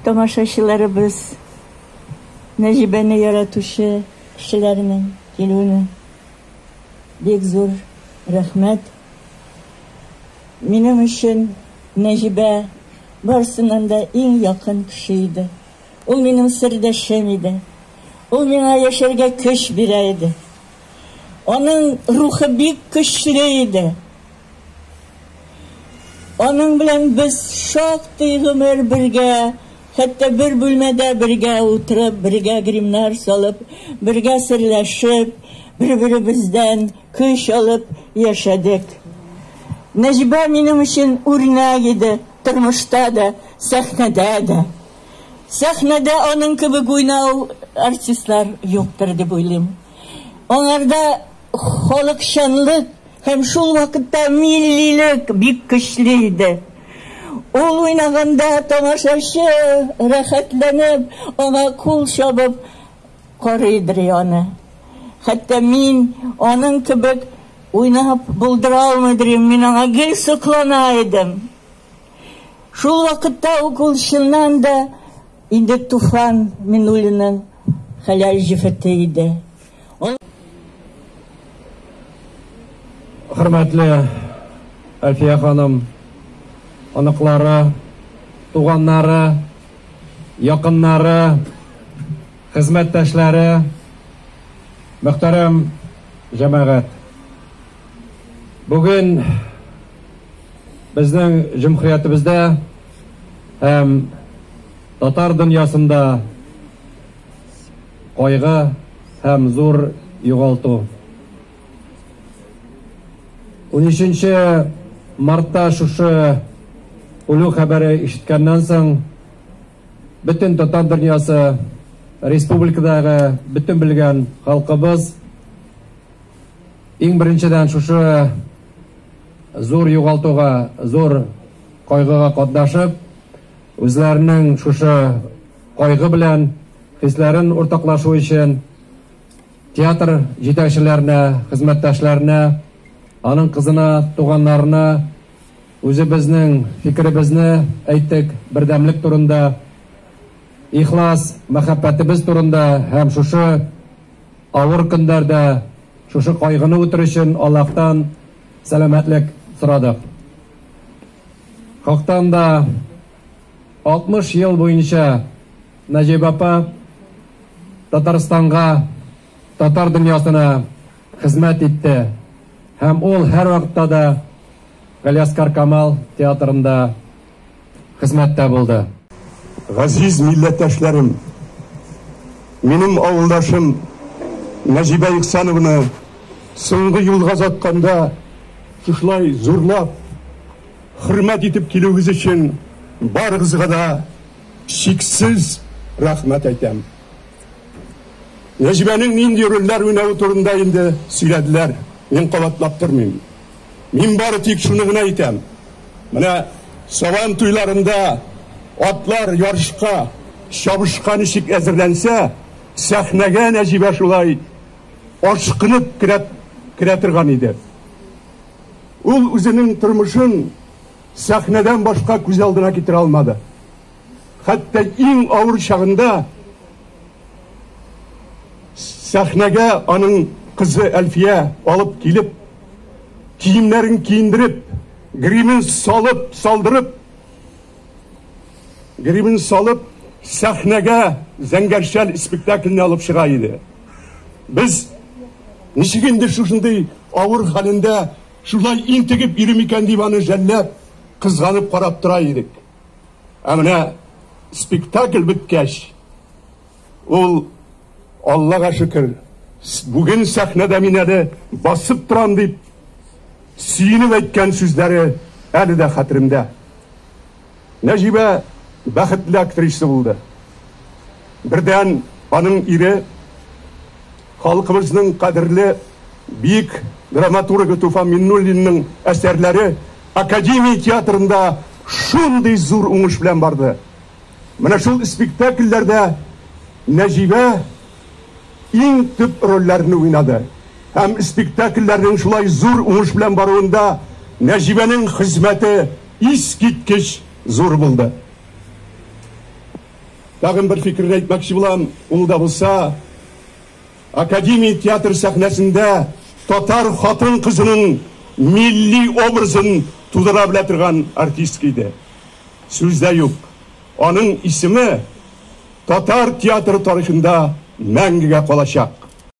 Тамашачыларыбыз Нәҗибәне яратучы кешеләрнең килүенә бик зур рәхмәт. Минем өчен Нәҗибә барсыннан да иң якын кеше иде. Ул минем сердәшем иде. Ул миңа яшәргә көч бирә иде. Аның рухы бик көчле иде. Аның белән без шактый гомер бергә, хәтта бер бүлмәдә бергә утырып, бергә гримнар салып, бергә серләшеп, бер-беребездән көч алып яшәдек. Нәҗибә минем өчен үрнәк иде, тормышта да, сәхнәдә дә. Сәхнәдә аның кебек уйнау артистлар юктыр дип уйлыйм. Аңарда Халыкчанлык һәм шул вакытта миллилек бик көчле иде. Ул уйнаганда тамашачы рәхәтләнеп, аңа кул чабып карый идри аны. Хәтта мин аның кебек уйнап булдыра алмый идри, мин аңа гел соклана идем. Шул вакытта ук ул чыннан да инде Туфан Минуллинның хәләл җефете иде. Хөрмәтле Әлфия ханым, оныклары, туганнары, якыннары, хезмәттәшләре, мөхтәрәм җәмәгать. Бүген безнең җөмһүриятебездә һәм татар дөньясында Кайгы һәм зур югалту. Унөченче мартта шушы үлү хәбәре ишеткәннән соң бөтен татар дөньясы, республикадагы бөтен белгән халкыбыз иң беренчедән шушы зур югалтуга, зур кайгыга катнашып, үзләренең шушы Кайгы белән хисләрен уртаклашу өчен театр җитәкчеләренә, хезмәттәшләренә, аның кызына, туганнарына үзебезнең фикеребезне әйттек, бердәмлек турында, ихлас мәхәббәтебез турында һәм шушы авыр көннәрдә шушы кайгыны үтер өчен Аллаһтан сәламәтлек сорадык. Хактан да 60 ел буенча Нәҗибә апа Татарстанга, татар дөньясына хезмәт итте һәм ул һәрвакытта да Галиаскар Камал театрында хезмәттә булды. Газиз милләттәшләрем! Минем авылдашым Нәҗибә Ихсанованы соңгы юлга озатканда шушылай зурлап, Хөрмәт итеп килүегез өчен барыгызга да чиксез рәхмәт әйтәм. Нәҗибәнең нинди рольләр уйнавы турында инде сөйләделәр, мин кабатлап тормыйм. Мин бары тик шуны гына әйтәм, менә Сабан туйларында атлар ярышка, чабышка ничек әзерләнсә, сәхнәгә Нәҗибә шулай ашкынып керә торган иде. Ул үзенең тормышын сәхнәдән башка күз алдына китерә алмады. Хәтта иң авыр чагында сәхнәгә аның кызы Әлфия алып килеп, киемнәрен киендереп, гримен салып, салдырып, гримен салып, сәхнәгә зәңгәршәл спектакльне алып чыга иде. Без ничек инде шушындый авыр хәлендә шулай интегеп йөри микән дип аны жәлләп, кызганып карап тора идек. Ә менә спектакль беткәч, ул Аллага шөкер, бүген сәхнәдә мин әле басып торам дип сөенеп әйткән сүзләре әле дә хәтеремдә. Нәҗибә бәхетле актриса булды. Бердән, аның ире, халкыбызның кадерле биек драматургы Туфан Миннуллинның әсәрләре Академия театрында шундый зур уңыш белән барды. Менә шул спектакльләрдә Нәҗибә иң төп рольләрне уйнады һәм спектакльләрнең шулай зур уңыш белән баруында Нәҗибәнең хезмәте искиткеч зур булды. Тагын бер фикерне әйтмәкче булам, ул да булса, Академия театры сәхнәсендә татар хатын-кызының милли образын тудыра белә торган артистка иде. Сүз дә юк, аның исеме, татар театры тарихында мәңгегә калачак.